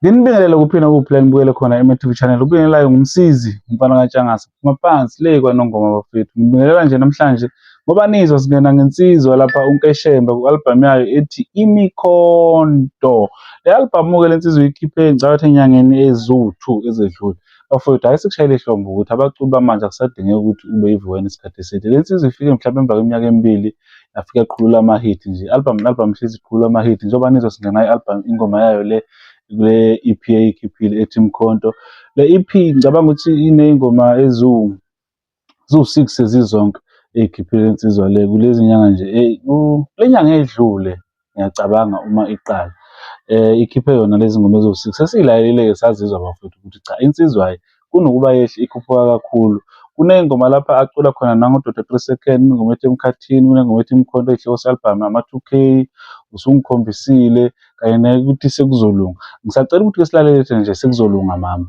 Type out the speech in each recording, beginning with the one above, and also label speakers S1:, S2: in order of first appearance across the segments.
S1: Nginibingelele kuphi nakuphi la nibukele khona eMTV Channel. Ubingelelayo ngumsizi umfana kaTshangase. Phuma phansi le kwaNongoma bafethu. Ngibingelela nje namhlanje ngoba nizwa singena ngensizwa lapha uNkeshemba ku-album yayo ethi Imikhonto. Le album ke lensizwa uyikhiphe ngicabanga enyangeni eziwu-2 ezedlule. Bafowethu hayi sikushayile ihlombe ukuthi abaculi bamanje akusadingeki ukuthi ube yivuwena isikhathi eside. Le nsizwa ifike mhlawumbe emva kweminyaka emibili yafika iqhulula ama-hit nje album ne-album ihlezi iqhulula ama-hit njengoba nizwa singena i-album ingoma yayo le kule EP eyikhiphile ethi Mkhonto le EP ngicabanga ukuthi iney'ngoma eziwu ziwu-six sezizonke ey'khiphile insizwa le kulezi nyanga nje le nyanga edlule ngiyacabanga uma iqala um ikhiphe yona lezi ngoma eziwu-six sesiyilalelile-ke sazizwa bafowethu ukuthi cha insizwa hhayi kunokuba yehle ikhuphuka kakhulu kuney'ngoma lapha acula khona nangododa three second ingoma ethi emkhathini kunengoma ethi imkhonto ey'hloko se-albhamu ama-two k usungikhombisile kanye nekuthi sekuzolunga ngisacela ukuthi-ke silalele thina nje sekuzolunga mama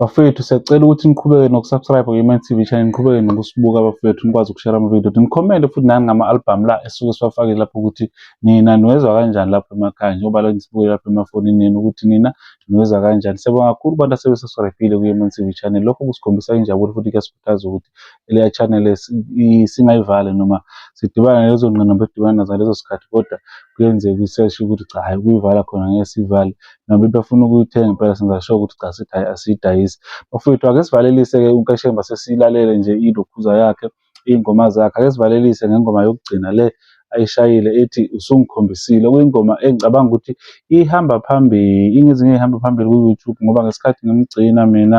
S1: Bafethu siyacela ukuthi niqhubeke nokusubscribe kwi-Iman TV channel, niqhubeke nokusibuka bafethu, nikwazi ukushare ama-video, nikhomente futhi nani ngama-albhamu la esuke siwafakile lapho ukuthi nina niwezwa kanjani lapho emakhaya njengoba la nisibuke lapho emafonini nina ukuthi nina niwezwa kanjani. Siyabonga kakhulu kubantu asebesubscribile kwi-Iman TV channel, lokho kusikhombisa injabulo futhi kuyasikhuthaza ukuthi leya channel singayivali noma sidibana nalezo ngqinamba esidibana nazo ngalezo sikhathi kodwa kuyenzeka i-search ukuthi cha hhayi ukuyivala khona ngeke sivale. Noma befuna ukuyithenga impela senza sure ukuthi cha sithi hhayi asiyidayisi. Bafowethu ake sivalelise-ke uNkeshemba sesilalele nje ilokhuza yakhe, iy'ngoma zakhe. Ake sivalelise ngengoma yokugcina le ayishayile ethi usungikhombisile. Okuyingoma engicabanga ukuthi ihamba phambili, ingezinye ey'hamba phambili ku-YouTube ngoba ngesikhathi ngimgcina mina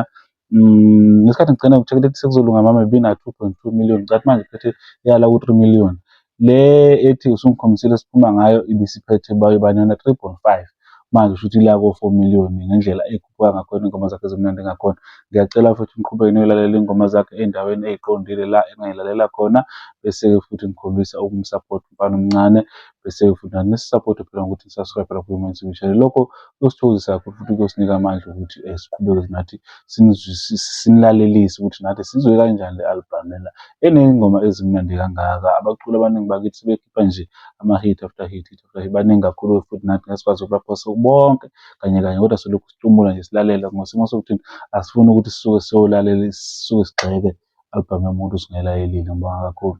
S1: Mm, ngesikhathi ngigcina ngithekele ukuthi sekuzolunga mama bina 2.2 million cathi manje phethe yala ku 3 million le ethi usungikhombisile siphuma ngayo ibisiphethe bayo banana 3.5 manje usho ukuthi la ko 4 million ngendlela ekhuphuka ngakhona ingoma zakhe zimnandi ngakhona ngiyacela futhi ngiqhubeke niyolalela ingoma zakhe endaweni eziqondile la engayilalela khona bese futhi ngikhombisa ukumsupport umfana omncane bese futhi nisisaphothe phela ngokuthi nisubscribe lapho uma nisibishele lokho kuyosithokozisa kakhulu futhi kuyosinika amandla ukuthi um siqhubeke nathi sinilalelise ukuthi nathi sizwe kanjani le albhamu lena eney'ngoma ezimnandi kangaka abaculi abaningi bakithi sebekhipha nje ama-hit after hit hit after hit baningi kakhulu futhi nathi ngeke sikwazi ukubaphosa bonke kanye kanye kodwa selokhu situmula nje silalela ngosimo sokuthini asifuni ukuthi sisuke siyolalela sisuke sigxeke albhamu yomuntu singelayelile ngibonga kakhulu